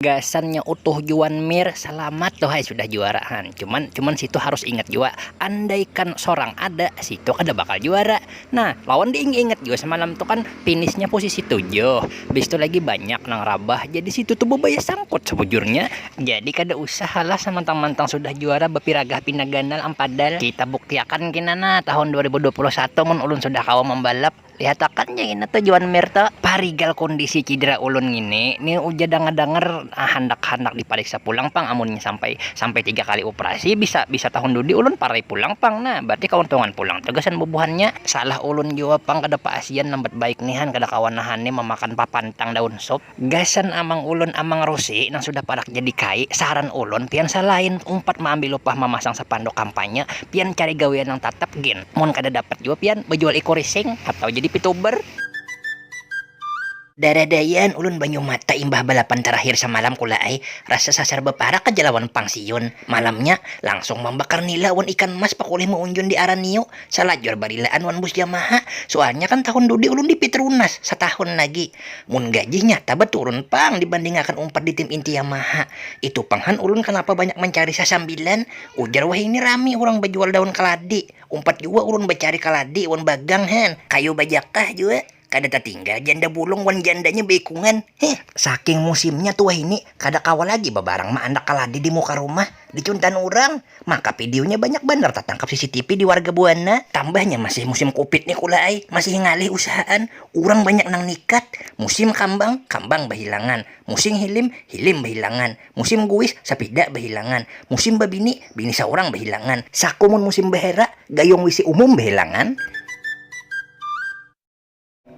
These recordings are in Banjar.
gasannya utuh juan mir selamat tuh hai sudah juara han cuman cuman situ harus ingat juga andaikan sorang ada situ kada bakal juara nah lawan diing ingat juga semalam tuh kan finishnya posisi tujuh bis itu lagi banyak nang rabah jadi situ tuh bebaya sangkut sebujurnya jadi kada usah halah samantang-mantang sudah juara bepiragah pina ganal am padal kita buktiakan kina nah tahun 2021 mun ulun sudah kawa mambalap. Lihat akan ja ngini tuh Juan Mir tuh, parigal kondisi cidera ulun ngini, ni ujar dangar-dangar handak-handak dipariksa pulang pang amunnya sampai sampai tiga kali uprasi bisa bisa tahun dudi ulun parai pulang pang nah, berarti kauntungan pulang tuh gasan bubuhannya. Salah ulun jua pang kada paasian lambat baik nihan kada kawa nahan ni mamakan papantang daun sup. Gasan amang ulun amang Rusi nang sudah parak jadi kai, saran ulun pian salain umpat maambil upah mamasang sapanduk kampanye, pian cari gawian nang tatap gin, mun kada dapat jua pian bajual iku rising atau jadi pituber. Daradaian ulun banyu mata imbah balapan tarakhir samalam kula ai, rasa sasar baparak aja lawan pang siun, malamnya langsung mambakar nila wan ikan mas pakulih maunjun di araniu, salajur barilaan wan bus yamaha, sualnya kan tahun dudi ulun di pitrunas, satahun lagi. Mun gajinya taba turun pang dibandingakan umpat di tim inti Yamaha. Itu pang han ulun kanapa banyak mancari sasambilan, ujar wahini rami urang bajual daun kaladi. Umpat jua ulun bacari kaladi wan bagang han, kayu bajakah jua. Kada tatinggal janda bulung wan jandanya baikungan. Hih. Saking musimnya tu wahini kada kawa lagi babarang maandak kaladi di muka rumah. Dicuntan urang, maka videonya banyak banar tatangkap CCTV di warga buana. Tambahnya masih musim covid ni kula ai, masih ngalih usahaan, urang banyak nang nikat, musim kambang, kambang bahilangan, musim hilim, hilim bahilangan, musim guis, sapida bahilangan, musim babini, bini saurang bahilangan, saku mun musim bahera, gayung wc umum bahilangan.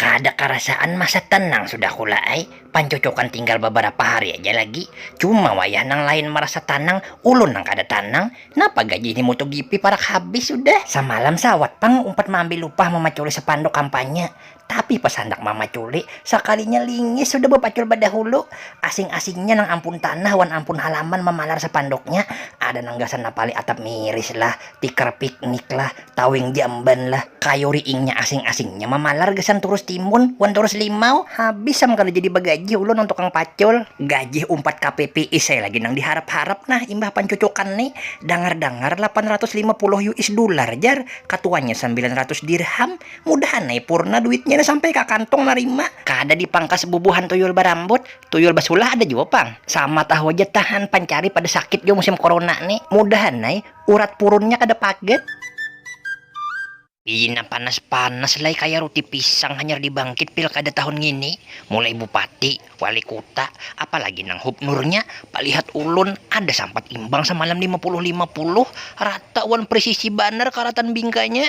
Kada karasaan masa tenang sudah kula ai, pancucukan tinggal babarapa hari aja lagi, cuma wayah nang lain marasa tanang, ulun nang kada tanang, napa gaji ini MotoGP parak habis sudah. Samalam sawat pang umpat maambil upah mamaculi sapanduk kampanye, tapi pas handak mamaculi, sakalinya lingis sudah bapacul badahulu, asing-asingnya nang ampun tanah wan ampun halaman mamalar sapanduknya, ada nang gasan napali atap miris lah, tikar piknik lah, Tawing jamban lah, kayu riingnya asing-asingnya mamalar gasan turus timun wan turus limau, habis am kada jadi bagajih ulun wan tukang pacul. Gajih umpat ka PPIS ai lagi nang diharap-harap nah imbah pancucukan ni, dangar-dangar lapan ratus lima puluh us dular jar, katuanya sambilan ratus dirham, mudahan ai purna duitnya ni sampai ka kantung narima. Kada dipangkas bubuhan tuyul barambut, tuyul basulah ada jua pang, sama tahu haja tahan pancari pada sakit jua musim corona ni, mudahan ai. Urat purunnya kada paget. Pina panas-panas lai kaya ruti pisang hanyar dibangkit pilkada tahun ngini, mulai bupati, wali kuta, apalagi nang hubnurnya, palihat ulun kada sampat imbang samalam lima puluh lima puluh, rata wan presisi banar karatan bingkanya.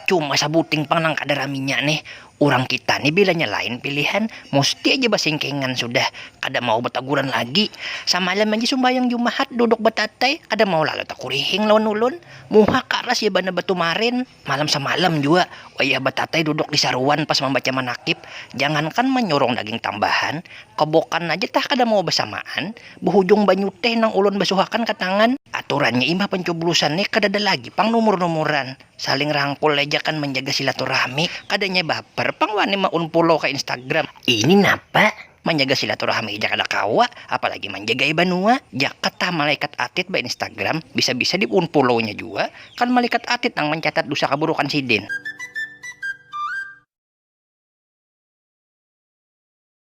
Cuma sabuting pang nang kada raminya nih, urang kita nih bilanya lain pilihan musti aja basingkingan sudah, kada mau bataguran lagi, samalam aja sumbayang jumahat duduk batatai kada mau lalu takurihing lawan ulun, muha karas ja banar batu marin, malam samalam jua wayah batatai duduk di saruan pas mambaca manakib, jangankan manyurung daging tambahan, kobokan aja tah kada mau basamaan. Buhujung banyu teh nang ulun basuhakan ka tangan. Aturannya imbah pancublusan ne kadada lagi pang numur-numuran. Saling rangkul ai ja kan manjaga silaturahmi. Kadanya baper pang wani ma-unpullow ka Instagram. Ini napa? Manjaga silaturahmi ja kada kawa, apalagi manjagai banua. Jaka tah malaikat atit ba-instagram, bisa-bisa di-unpullownya jua. Kan malikat atit nang mancatat dusa kaburukan sidin.